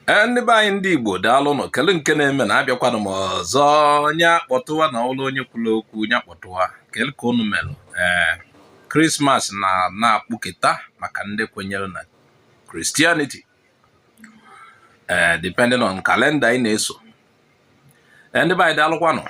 ee ndị be anyị ndị igbo daalụ nụ kele nke na-eme na abịakwanụ m ọzọ nya kpọtụwa na ụlọ onye kwuru okwu nya kpọtụwa kele ka unu melụ ee krismas na na-akpụketa maka ndị kwenyere na christianity ee depending on kalenda ị na-eso ee ndị be anyị daalụkwanụ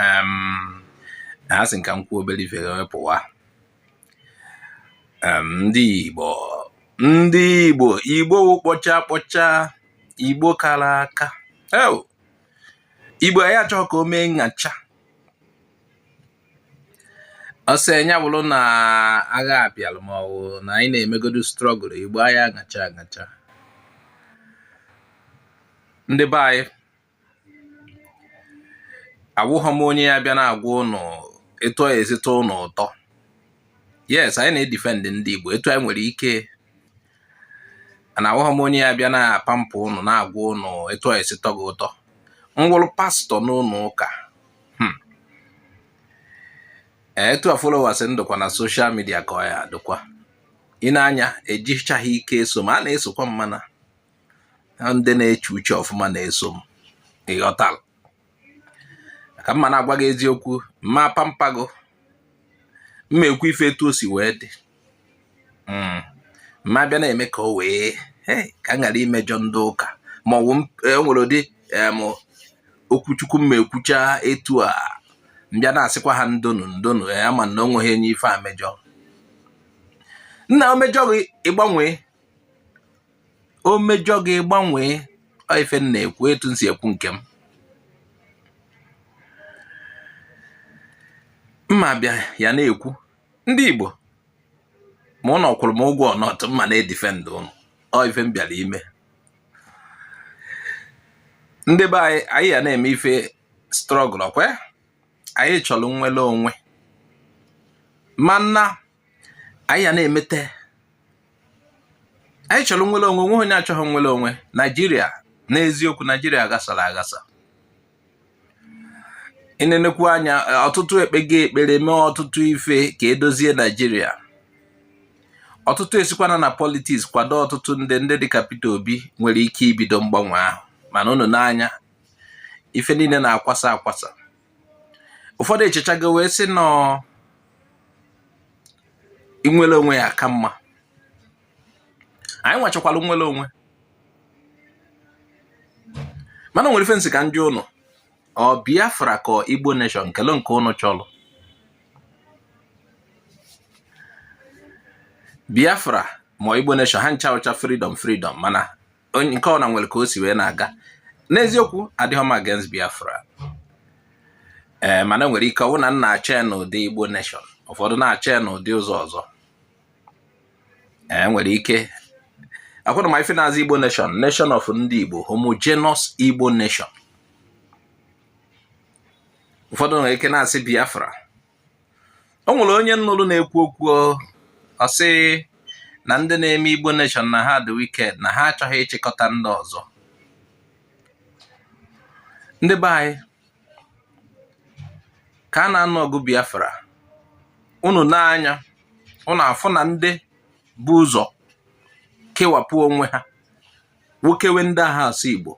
ee asị m ka m kwuo obere ife wee pụwa Em, ndị Igbo ndị Igbo Igbo wụ kpọcha kpọcha Igbo kara aka Ew, Igbo anyị achọghị ka o mee nyacha ọsọ nya bụrụ na agha abịalụ ma ọ bụ na anyị na-emegodu strọgụl Igbo anyị agacha agacha ndị be anyị awụghọ m onye ya-abịa na-agwa ụnụ etu ọ ya-esi tọ ụnụ ụtọ yes anyị na-edifend ndị Igbo etu anyị nwere ike na awụghọ m onye ya-abịa na-apampa ụnụ na-agwa ụnụ etu ọ ya-esi tọ gị ụtọ m wụrụ pastọ n'ụlọ ụka hmm. etu a followers m dụkwa na soshal midia ka ọ ya-adịkwa ị nee anya ejichaghị ike eso m a na-esokwa m mana na ndị na-eche uche ọfụma na-eso m ị ghọtara ka m ma na-agwa gị eziokwu m ma-apampa gị m ma-ekwu ife etu o si wee dị hmm. m ma-abịa na-eme ka o wee ka m ghara imejọ ndị ụka ma ọ bụ e nwere ụdị okwu chukwu m ma-ekwucha etu a m bịa na-asịkwa ha ndo nụ ndo nụ ya ma na o nweghị onye ife a mejọ nna o mejọ gị ị gbanwee o mejọ gị ị gbanwee ọ ife m na-ekwu etu m si ekwu nke m m ma-abịa ya na-ekwu ndị Igbo ma ụnụ kwụrụ m ụgwọ or not m ma na-edifend ụnụ ọ ife m bịara ime ndị be anyị anyị ya na-eme ife strọgụl ọkwa anyị chọrọ nnwere onwe mana anyị ya na-emete anyị chọrọ nnwere onwe nweghị onye achọghị nnwere onwe naijiria n'eziokwu naijiria ghasara aghasa ị nenekwu anya ọtụtụ ekpego ekpere mee ọtụtụ ife ka e dozie naijiria ọtụtụ esikwana na politiks kwado ọtụtụ ndị ndị dịka Peter Obi nwere ike ibido mgbanwe ahụ mana unu nee anya ife niile na-akwasa akwasa ụfọdụ echechago wee sị na ọ inwere onwe ya ka mma anyị nwachakwara nnwere onwe mana nwere ife m sị ka m jụọ ụnụ ọ biafra ka igbo nation kele nke ụnụ chọrọ biafra ma igbo nation ha ncha wụcha freedom freedom mana onye nke ọwụna nwere ka o si wee na-aga n'eziokwu adịghị m against Biafra ee eh, mana nwere ike ọ wụ na m na-achọ ya n'ụdị Igbo nation ụfọdụ na-achọ ya n'ụdị ụzọ ọzọ ee eh, nwere ike akwụna ma ife na-aza Igbo nation nation of ndị Igbo homogeneous Igbo nation ụfọdụ nwere ike na-asị Biafra o nwere onye m nụrụ na-ekwu okwu ọ sị na ndị na-eme Igbo nation na ha dị wicked na ha achọghị ịchịkọta ndị ọzọ ndị be anyị ka a na-anụ ọgụ Biafra unu nee anya unu afụ na ndị bu ụzọ kewapụ onwe ha nwokewe ndị aha asụ Igbo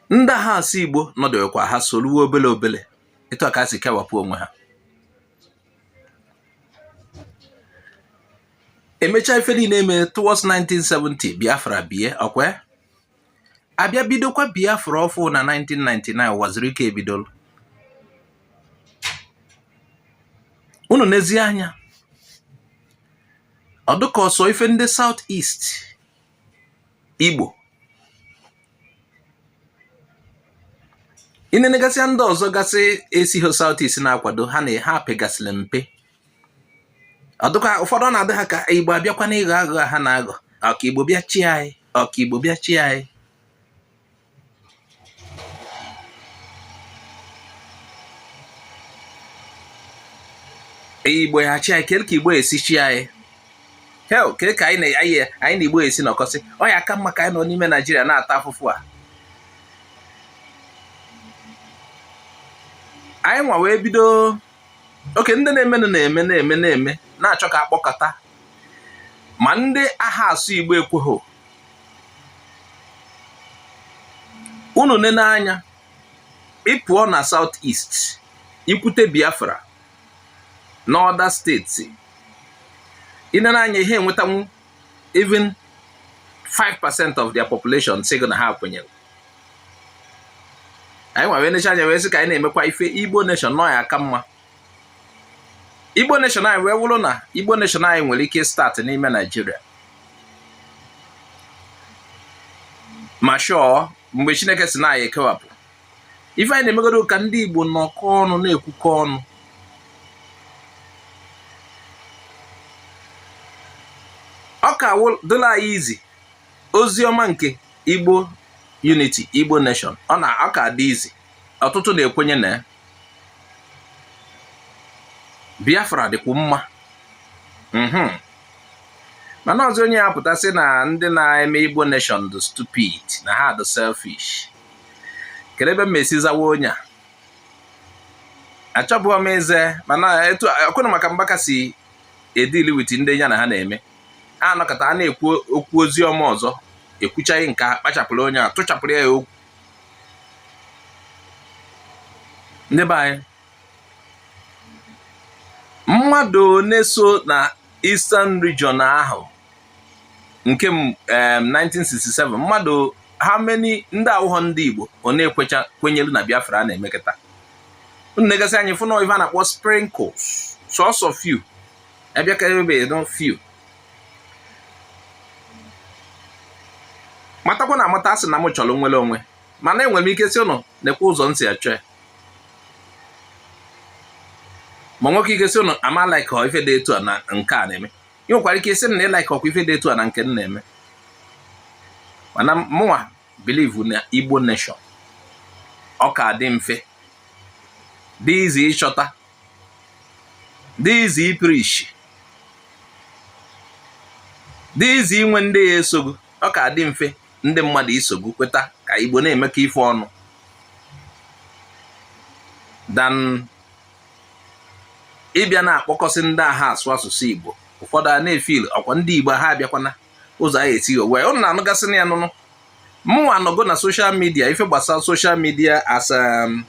ndị aha asụ igbo nọdụkwa ha soruwe obele obele etu a ka ha si kewapụ onwe ha emechaa ife niile eme towards 1970 biafra bie ọ kwa a bịa bidokwa biafra ọfụ na 1999 Uwazuruike bidolu unu nezie anya ọ dịka ọ sọ ife ndị South East igbo i nenegasịa ndị ọzọ gasị esighị South East na-akwado ha na ha pegasịrị mpe ọ dịka ụfọdụ na-adị ha ka igbo abịakwa n'ịghọ aghụghọ ha na-aghọ ọ ka igbo bịa chịa anyị ọ ka igbo bịa chịa anyị igbo ya-achị anyị kee ka igbo esi chịa anyị kee ka anyị na anyị na igbo esi nọkọsị ọ ya-aka mma ka anyị nọ n'ime naijiria na-ata afụfụ a anyị nwa wee bido okay ndị na-emenụ na-eme na-eme na-eme na-achọ ka a kpọkọta ma ndị aha asụ igbo ekweghị unu nene anya ị pụọ na south east i kwute biafra na other states i nene anya ị ha enwetanwu even 5% of their population sị gị na ha kwenyere anyị nwa wee necha anya wee sị ka anyị na-emekwa ife igbo nation na ọ ya-aka mma igbo nation anyị wee wụrụ na igbo nation anyị nwere ike start n'ime naijiria ma shọọ mgbe chineke sị na anyị ekewapụ ife anyị na-emegodo ka ndị Igbo nọkọ ọnụ na-ekwukọ ọnụ ọ ka dịla anyị izi ozi ọma nke Igbo unity Igbo nation ọ na ọ ka dị easy ọtụtụ na-ekwenye na Biafra dịkwa mma mhm. mana ọzọ onye ya pụta sị na ndị na-eme Igbo nation dị stupid na ha dị selfish kedu ebe m esi zawa onye a achọbụghị m ịza mana etu ọkwụna maka mgbaka si edeal with ndị ya na ha na-eme ha anọkọta a na-ekwu okwu ozi ọma ọzọ ekwuchaghị nke a kpachapụrụ onye a tụchapụrụ ya okwu ndị be anyị mmadụ one so na Eastern Region ahụ nke 1967 um, mmadụ how many ndị awụghọ ndị Igbo ọ na-ekwecha kwenyelu na Biafra a na-emekọta unu negasịa anya fụ na ife a na-akpọ sprinkles sọsọ few abịa ka ebe no few matakwa na amata asị na m chọrọ nnwere onwe mana enwere m ike sị ụnụ nekwa ụzọ m si achọ ya ma nwee ike sị ụnụ ama like ife dị etu a na nke a na-eme ị nwekwara ike ịsị na ị like ọkwa ife dị etu a na nke m na-eme mana mụnwa believe na igbo nation ọ ka dị mfe dị easy ịchọta dị easy ipreach dị easy inwe ndị ya-eso gị ọ ka dị mfe ndị mmadụ iso gị kweta ka igbo na-emekọ ife ọnụ than ịbịa na-akpọkọsị ndị aha asụ asụsụ Igbo ụfọdụ a na-efeel ọkwa ndị Igbo ha abịakwana ụzọ anyị esi owe ụnụ na-anụgasị na ya nụnụ mụnwa anọgo na social media ife gbasara social media as um,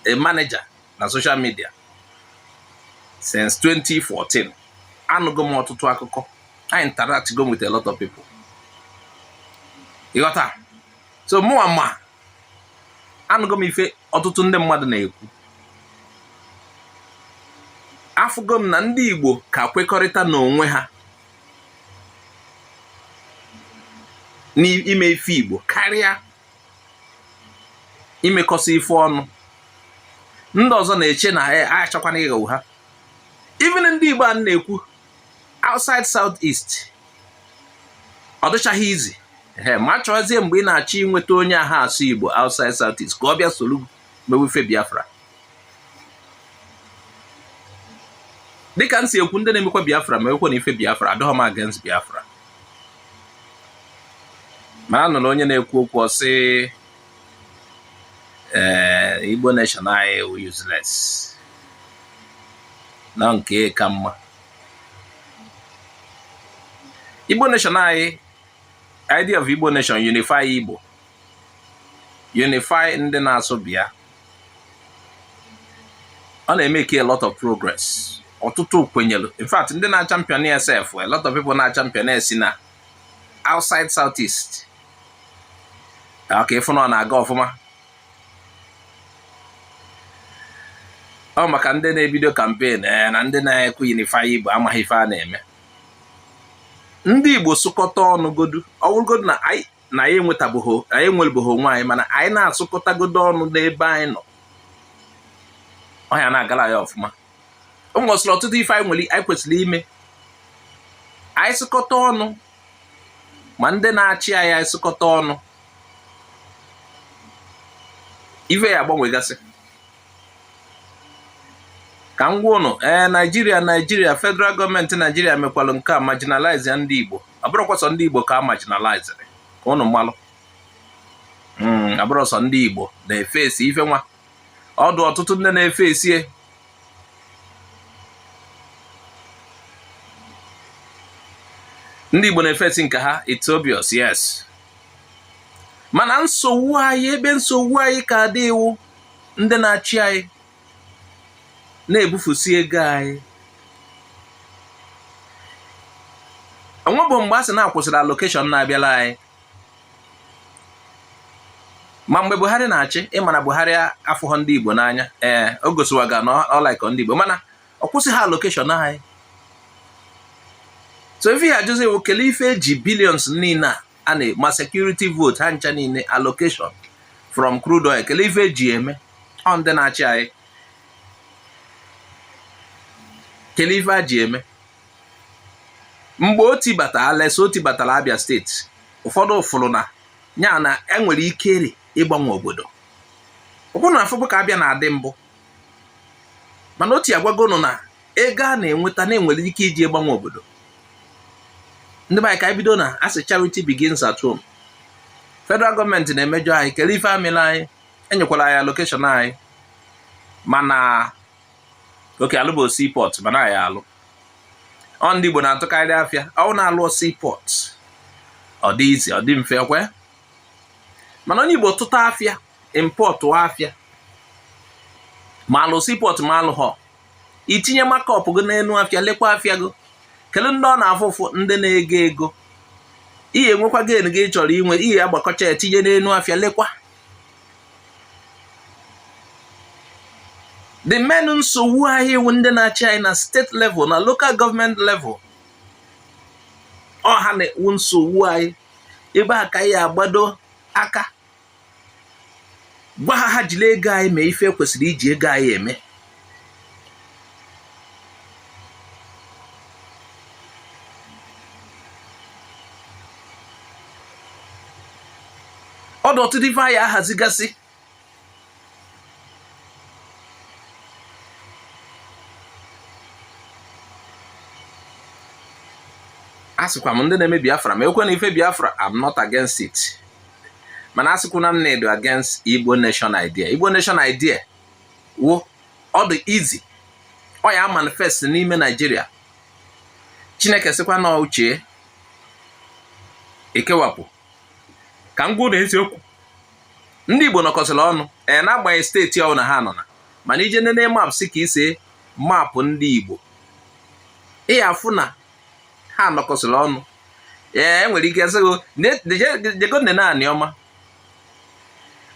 a manager na social media since 2014 anụgo m ọtụtụ akụkọ a interact go m with a lot of people ị ghọta so mụnwa ma anụgo m ife ọtụtụ ndị mmadụ na-ekwu afụgo m na ndị Igbo ka kwekọrịta n'onwe ha n'ime ife Igbo karịa imekọsị ife ọnụ ndị ọzọ na-eche na ha achọkwana ịghọgbu ha even ndị Igbo a na-ekwu outside south east ọ dịchaghị easy ee ma chọzie mgbe ị na-achọ inweta onye aha asụ igbo outside south east ka ọ bịa soro mewe ife biafra dịka m si ekwu ndị na-emekwa biafra mewekwanụ ife biafra adịghọ m against biafra ma anụrụ onye na-ekwu okwu ọ sị ee eh, Igbo nation anyị wụ useless na nke ka mma Igbo nation anyị idea of Igbo nation unify Igbo unify ndị na-asụ bịa ọ na-emeke a lot of progress ọtụtụ kwenyere in fact ndị na-achampion ya sef a lot of people na-achampion ya si na outside south east okay ị fụ na ọ na-aga ọfụma ọ maka ndị na-ebido campaign eh, na ndị na-ekwu unify igbo amaghị ife a na-eme ndị igbo sụkọta ọnụ godu ọ wụrụgodu na anyị na anyị enwetabeghị anyị enwebeghị onwe anyị mana anyị na-asụkọtagodo ọnụ n'ebe anyị nọ ọ ya na-agala ya ọfụma o nwesịrị ọtụtụ ife anyị nwere anyị kwesịrị ime anyị sụkọta ọnụ ma ndị na-achị anyị anyị sụkọta ọnụ ife ya agbanwegasị ka m gwa ụnụ ee eh, naijiria naijiria federal gọọmenti naijiria mekwalụ nke a marginalize ya ndị igbo abụrọkwa sọ ndị igbo ka a marginalized ka ụnụ malụ hmm, abụrọ sọ ndị igbo na-efesi ife nwa ọ dụ ọtụtụ ndị na-efesi e ndị Igbo na-efesi nke ha it's obvious yes mana nsogbu anyị ebe nsogbu anyị ka dị wụ ndị na-achị anyị na-ebufusi ego anyị o nwebu mgbe a sị na a kwụsịrị allocation na-abịala anyị ma mgbe buhari na-achị ị ma na buhari afụghọ ndị igbo n'anya ee o gosiwaga na ọ like ndị igbo mana ọ kwụsịghị allocation anyị so ife ị ya-ajụzi wụ kelee ife e ji billions niile a a na ma security vote ha ncha niile allocation from crude oil kelee ife e ji eme ọ ndị na-achị anyị kelee ife ha ji eme mgbe Otti batara Alex Otti batara Abia steeti ụfọdụ fụrụ n'anya na e nwere ike rị ịgbanwe obodo ọ bụrụ na a fụbu ka Abia na-adị mbụ mana Otti agwago ụnụ na ego a na-enweta na e nwere ike iji ịgbanwe obodo ndị be anyị ka anyị bido na a sị charity begins at home federal gọọmenti na-emejọ anyị kere ife ha mela anyị e nyekwala anyị allocation anyị mana okay alụbu seaport mana ya alụ ọ ndị Igbo na-atụkarị afịa ọ bụrụ na a lụọ seaport ọ dị easy ọ dị mfe ọkwa ya mana onye Igbo tụta afịa impọtụ afịa ma alụ seaport ma alụhọ i tinye markup gị n'elu afịa lekwa afịa gị kelee ndị ọ na-afụ ụfụ ndị na-ego ego ị ya-enwekwa gain gị ị chọrọ inwe ị ya-agbakọcha ya tinye n'elu afịa lekwa the main nsogbu anyị iwu ndị na-achị anyị na state level na local government level ọ ha na-ewu nsogbu anyị ebe a ka a ya agbado aka gwa ha ha jiri ego anyị mee ife e kwesịrị iji ego anyị eme ọ dụ ọtụtụ ife a ya ahazigasị asịkwa m ndị na-eme biafra ma ekwe na ife biafra I'm not against it mana asịkwuna m na-edo against igbo nation idea igbo nation idea wụ ọ dị easy ọ ya manifest n'ime naijiria chineke sịkwa na uche ekewapụ ka m gwa ụnụ eziokwu ndị igbo nọkọsịrị ọnụ ee n'agbanyeghị steeti ọbụla ha nọ na mana i je nene map si ka e se mapụ ndị igbo ị ya afụ na ha nọkọsịrị ọnụ ee e nwere ike sịgo jego nene anioma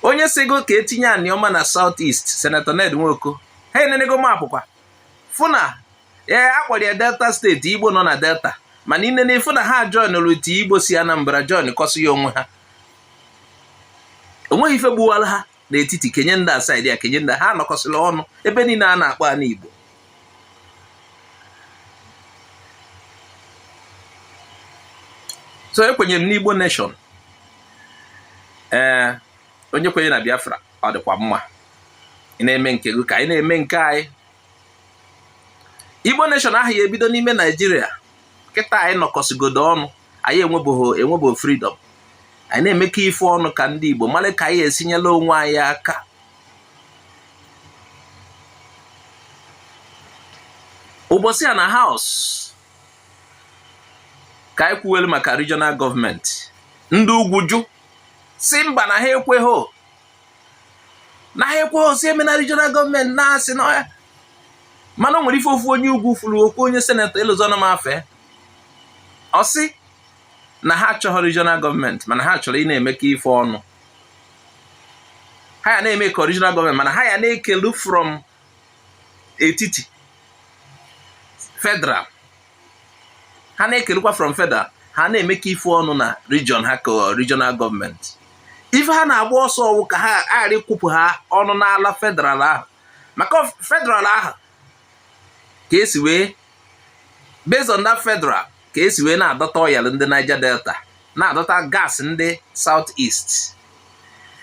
onye sịgo ka e tinye anioma na south east senator ned nwoko ha enenego mapụ kwa fụ na ee a kpọrọ ya delta state igbo nọ na delta mana i nene fụ na ha join rute igbo si anambra join kọsịa onwe ha o nweghị ife gbuwara ha n'etiti kenye ndị a side a kenye ndị ha anọkọsịla ọnụ ebe niile a na-akpọ ana Igbo so ekwenyere m n'Igbo nation ee onye kwenye na Biafra ọ dịkwa mma ị na-eme nke gị ka anyị na-eme nke anyị Igbo nation ahụ ya ebido n'ime Naijiria kịta anyị nọkọsịgodo ọnụ anyị enwebeghị freedom anyị na-emekọ ife ọnụ ka ndị Igbo mara ka anyị esi nyela onwe anyị aka ụbọchị a na house ka anyị kwuwelu maka regional government ndị ugwu jụ sị mba na ha ekweghị na ha ekweghị sị emena regional government na-asị na mana o nwere ife ofu onye ugwu furu okwu onye senator elozona m afa ya ọ sị na ha achọghị regional government mana ha chọrọ ịna-emekọ ife ọnụ ha ya na-eme ka regional government mana ha ya na-ekelu from etiti federal ha na-ekelukwa from federal ha na-emekọ ife ọnụ na region ha ka regional government ife ha na-agba ọsọ ọ wụ ka ha ghara ịkwụpụ ha ọnụ n'ala federal ahụ maka federal ahụ ka esi wee based on that federal ka esi wee na-adọta oil ndị Niger Delta na-adọta gas ndị South East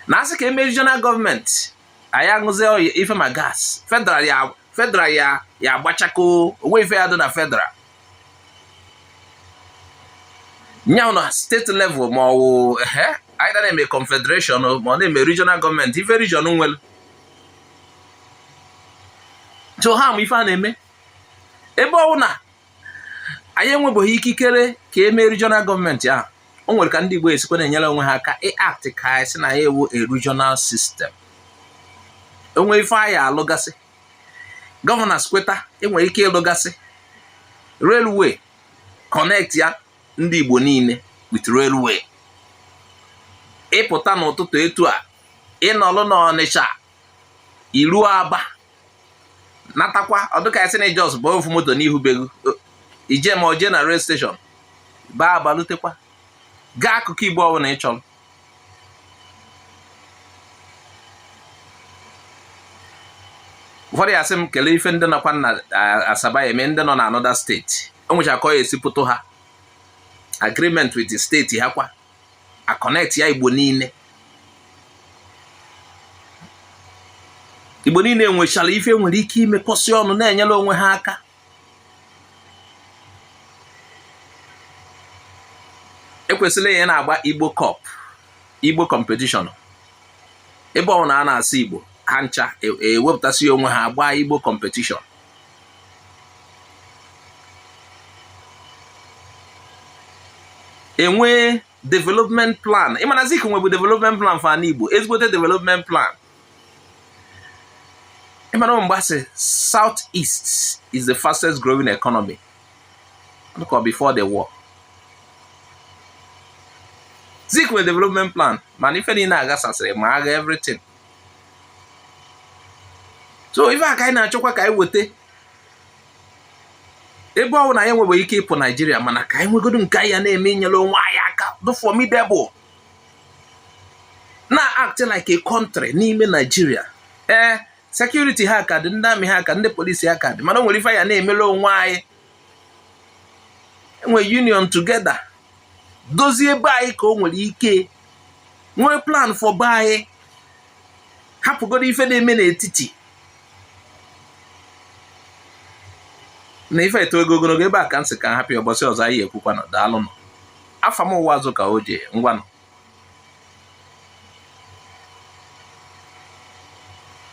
na a sị ka e mee regional gọọmenti anyị aṅụzie ife ma gas federal ya agbachako o nwee ife ya dị na federal nyanwụ na steeti level ma ọ wụ ehe either na-eme confederation ma ọ na-eme regional gọọmenti ife region nwere so ha ma ife a na-eme ebe ọwụ na anyị enwebeghị ikikere ka e mee regional gọọmenti ahụ o nwere ka ndị Igbo esikwa na-enyere onwe ha aka ị-act ka a sị na anyị wụ a regional system o nwee ife a ya-alụgasị governors kweta e nwere ike ịlụgasị railway connect ya ndị Igbo niile with railway ị pụta n'ụtụtụ etu a ị nọlụ n'ọnịcha i ruo aba natakwa ọ dị ka a sị na ị just bụ ofu moto n'ihu be gị i je ma oje na rail station baa aba lutekwa gaa akụkụ igbo ọbụla ị chọrọ before ị ya-asị m kelee ife ndị nọkwa na asaba ya-eme ndị nọ na another steeti o nwecha ka a ya-esi pụtụ ha agreement with the steeti ha kwa a connect ya igbo niile igbo niile nwechara ife nwere ike imekọsị ọnụ na-enyere onwe ha aka e kwesịrị ịna-agba igbo cup igbo competition ebe ọwụna a na-asụ igbo ha ncha ewepụtasịa onwe ha agbaa igbo competition e nwee development plan ị ma na zik nwebu development plan for ana igbo ezigbote development plan ị ma na mgbe a sị south east is the fastest growing economy dịka before the war zik nwere development plan mana ife niile agbasasịrị ma agha everything so ife a ka anyị na-achọkwa ka anyị weta ebe ọwụ na anyị enwebe ike ịpụ naijiria mana ka anyị nwegodo nke anyị ya na-eme inyere onwe anyị aka dị formidable na act like a country n'ime naijiria ee security ha ka dị ndị army ha ka dị ndị polisi ha ka dị mana o nwere ife anyị ya na-emere onwe anyị e nwee union together dozie be anyị ka o nwere ike nwee plan for be anyị hapụgodo ife na-eme n'etiti na ife a etoego ogologo ebe a ka m sị ka m hapụ ya ụbọsị ọzọ anyị ekwukwanụ daalụnụ afa m wụ Azụka o jee ngwanụ